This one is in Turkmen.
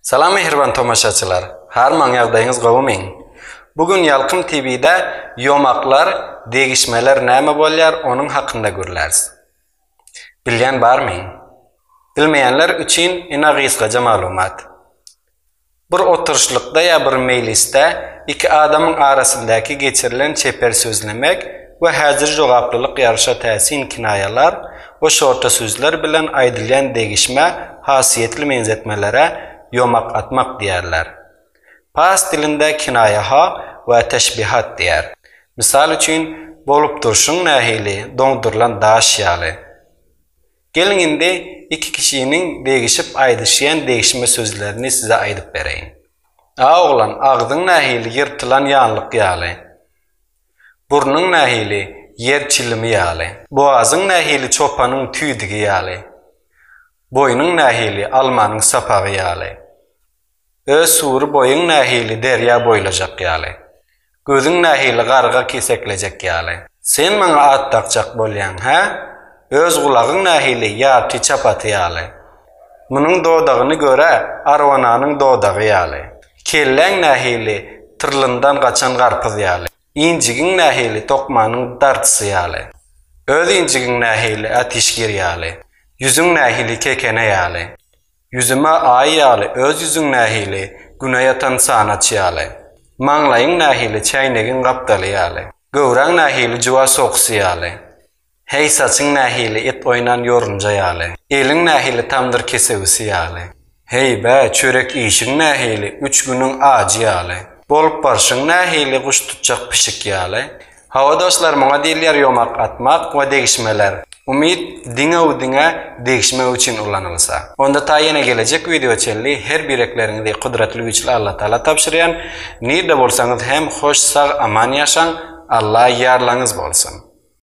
Salam mähriban tomaşaçylar! Harman ýagdaýyňyz gowy meň? Bu gün Ýalkym TV-de ýomaklar, degişmeler näme bolýar onuň hakynda gürläris. Bilýän barmy? Bilmeýänler üçin ina gysgaja maglumat. Bir oturyşlykda ýa bir meýlisde iki adamyň arasyndaky geçirilen çeper sözlemek we häzir jogaplylyk ýaryşa täsin kinaýalar we şorta sözler bilen aýdylýan degişmä hasiýetli meňzetmelere ýomak atmak diýerler. Pars dilinde kinaýa ha we teşbihat diýer. Mysal üçin, Bolup durşuň nähili doňdurylan daş ýaly. Geliň indi iki kişiniň degişip aýdyşýan degişme sözlerini size aýdyp bereýin. A oglan, agzyň nähili ýyrtylan ýanlyk ýaly. Burnuň nähili, ýer çilimi ýaly. Bogazyň nähili çopanyň tüýdügi ýaly. Boýnuň nähili, almanyň sapagy ýaly. Öz sury boýuň nähili derýa boýlajak ýaly. Gözüň nähili garga keseklejek ýaly. Sen maňa at dakjak bolýaň, hä? Öz gulagyň nähili ýarty çapaty ýaly. Munuň dodagyny gör-ä, arwananyň dodagy ýaly. Kelläň nähili, tyrlyndan gaçan garpyz ýaly. Injigiň nähili, tokmanyň dartysy ýaly. Öz injigiň nähili, ätişgir ýaly. Ýüzüň nähili, kekene ýaly. Ýüzüm-ä Aý ýaly, öz ýüzüň nähili, Güne ýatan çanaç ýaly. Maňlaýyň nähili, çäýnegiň gapdaly ýaly. Göwräň nähili, juwa soksy ýaly. Heý saçyň nähili et oýnan ýorunja ýaly, eliň nähili tamdyr kesewisi ýaly. Heý, bä, çörek iýşiň nähili üç günüň ajy ýaly, bolup barşyň nähili guş tutjak pişik ýaly. Hawa dostlar muňa diýilýär ýomak atmak we degişmeler. Umyt diňe-u diňe degişmek üçin ulanylsa. Onda ta ýene gelejek wideo çenli her birekleriňizi Kudratly Güýçli Allatagala tabşyrýan. Nirde bolsaňyz hem hoş sag aman ýaşaň. Alla ýarlaňyz bolsun.